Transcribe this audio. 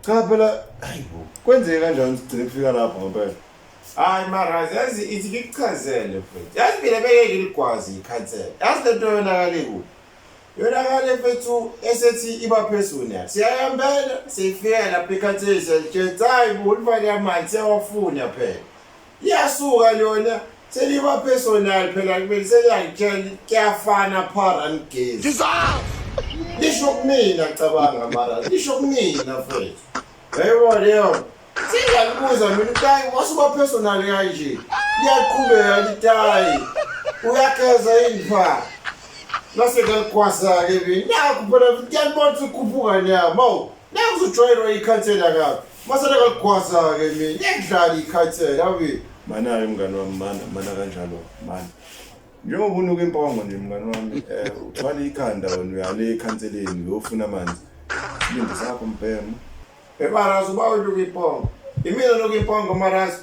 cha phela hayibo kwenzeke kanjani sigcine kufika lapho ngempela hayi maraz yazi ithi ngikuchazele mfethu yazi mina bengeke ngigwazi ikhansela yazi le nto yonakale kuphi yonakale mfethu esethi iba phezulu yayo siyayambela siyifika lapha ikhansela siyalitshela hayi bo ulifake amanzi siyawafuna phela Iyasuka lona seliba personal phela kumele seliyangitshela kuyafana phara nigezi. Lisho kumina cabanga mara lisho kumina mfethu. Yebo leyo. Singalibuza mina utayi wasuba personal kanje. Liyaqhubeka litayi. Uyageza yini phara? Nase ngalikwasa ke mina. Nakho phela ngiyalibona ukukhuphuka nyawo. Mawu. Nakuzojwayelwa ikhansela kabi. Masana kakugwaza ke mina. Ngiyadlala ikhathela awi. Mana hayi mngani wami mana mana kanjalo mana. Njengoba unuka impongo nje mngani wami eh uthwala ikhanda wena uyale ekhanseleni uyofuna amanzi. Silinde sakho mbhemu. Emarazi uba unuka impongo. Imina unuka impongo emarazi.